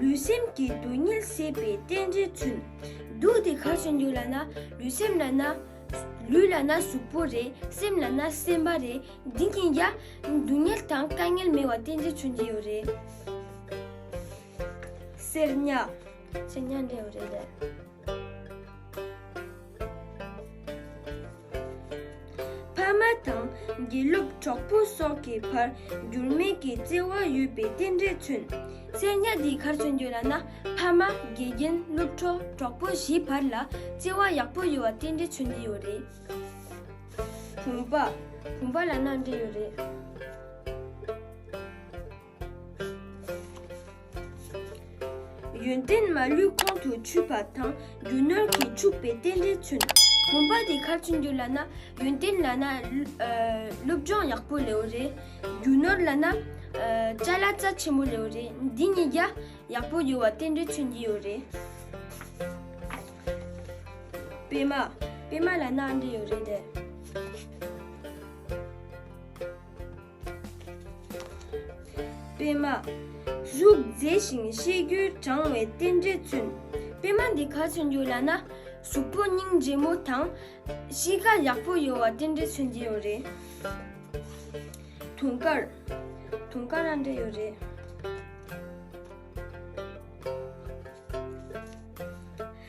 ལུས་སེམས་ཀྱི་སྡུག་བསྔལ་སེལ་བའི་རྟེན་འབྲེལ་ཚུལ། སྡུག་དེ་གར་བྱུང་ཡོད་ལ་ན་ལུས་སེམས་ལ་ན། ལུས་ལ་ན་གཟུགས་པོ་རེད་སེམས་ལ་ན་སེམས་པ་རེད་འདི་གཉིས་ཀྱ་སྡུག་བསྔལ་དང་དཀའ་ངལ་མེད་བ་རྟེན་འབྲེལ་མཚོན་གྱི་ཡོད་རེད། སེར་སྙ། སེར་སྙ་འདྲེས་ཡོད་རེད། ཕ་མ་དང་དགེ་སློབ་གྲོགས་པོ་སོགས་ཀྱི་བར་འགྱུར་མེད་ཀྱི་བརྩེ་བ་ཡོད་པའི་རྟེན་འབྲེལ་མཚོན། གསལ་བསྙག་འདིའི་ཁར་མཚོན་རྒྱུ་ལ་ན་ཕ་མ་དགེ་རྒན་སློབ་གྲོགས་གྲོགས་པོ་བཞིའི་བར་ལ་བརྩེ་བ་ཡག་པོ་ཡོད་བ་རྟེན་འབྲེལ་མཚོན་གྱི་ཡོད་རེད། བུམ་པ་བུམ་པ་ལ་ན་འབྲེལ་ཡོད་རེད། ཡོན་ཏན་མ་ལུས་ཁོང་དུ་ཆུད་པ་དང་རྒྱུ་སྣོད་ཀྱིས་ཕྱུག་པའི་རྟེན་འབྲེལ་མཚོན། བུམ་པ་དེ་ཁ་ཆུ་འགྱུར་ལ་ན་ཡོན་ཏན་ལ་ན་སློབ་སྦྱོང་ཡག་པོ་ལེའུ་རེ། རྒྱུ་སྣོད་ལ་ན་བཅའ་ལ་རྩ་ཆེན་པོ་ལེའུ་རེ་འདི་གཉིས་རྒྱ་ཡག་པོ་ཡོད་བ་རྟེན་འབྲེལ་མཚོན་གྱི་ཡོད་རེད། པད་མ་པད་མ་ལ་ན་ཨ་འབྲས་ཡོད་རེད་དེ། སྤེལ་མ། རུག་མཛེས་ཤིང་གཤིས་རྒྱུད་དྲང་བའི་རྟེན་འབྲེལ་བཙུན། སྤེལ་མ་འདི་ག་ཚུན་གྱུར་ལ་ན་གཟུགས་པོ་སྙིང་རྗེ་མོ་དང། གཤིས་ཀ་ཡག་པོ་ཡོད་བ་རྟེན་འབྲེལ་མཚོན་གྱི་ཡོད་རེད། དུང་དཀར། དུང་དཀར་རང་འདྲ་ཡོད་རེད།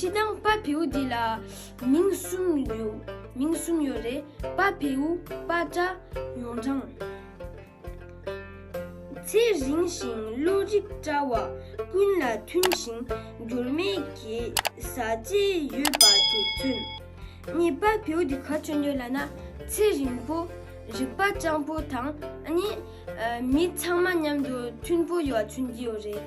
སྤྱི་དང་པ་བེའུ་འདི་ལ་མིང་གསུམ་ཡོད་མིང་གསུམ་ཡོད་རེད་པ་བེའུ་པ་སྤྲ་ཡོངས་གྲངས། ཚེ་རིང་ཞིང་བློ་རིག་བཀྲ་བ་ཀུན་ལ་མཐུན་ཞིང་འགྱུར་མེད་ཀྱི་བཟའ་བཅའི་ཡོད་པ་དེ་མཚོན། གཉིས་པ་བེའུ་འདི་ག་སྤྱོད་འདོད་ལ་ན་ཚེ་རིང་པོ་རིག་པ་སྤྱང་པོ་དང་གཉིས་མི་ཚང་མ་མཉམ་དུ་མཐུན་པོ་ཡོད་པ་མཚོན་གྱི་ཡོད་རེད།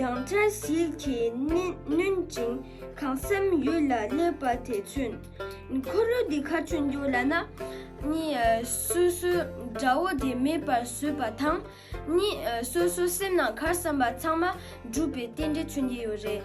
སྡང་དགྲ་ཞིག་གིས་བསྣུན་ཅིང་གང་སེམས་ཡུལ་ལ་སླེབས་པ་དེ་ཚུན། ཁོ་རུལ་འདི་ཁ་ཆུ་འདུག་ལ་ན། སོ་སོའི་དགྲ་བོ་དེ་མེད་པར་བཟོས་པ་དང། སོ་སོའི་སེམས་ནང་གར་བསམ་པ་ཚང་མ་འགྲུབ་པའི་རྟེན་འབྲེལ་མཚོན་གྱི་ཡོད་རེད།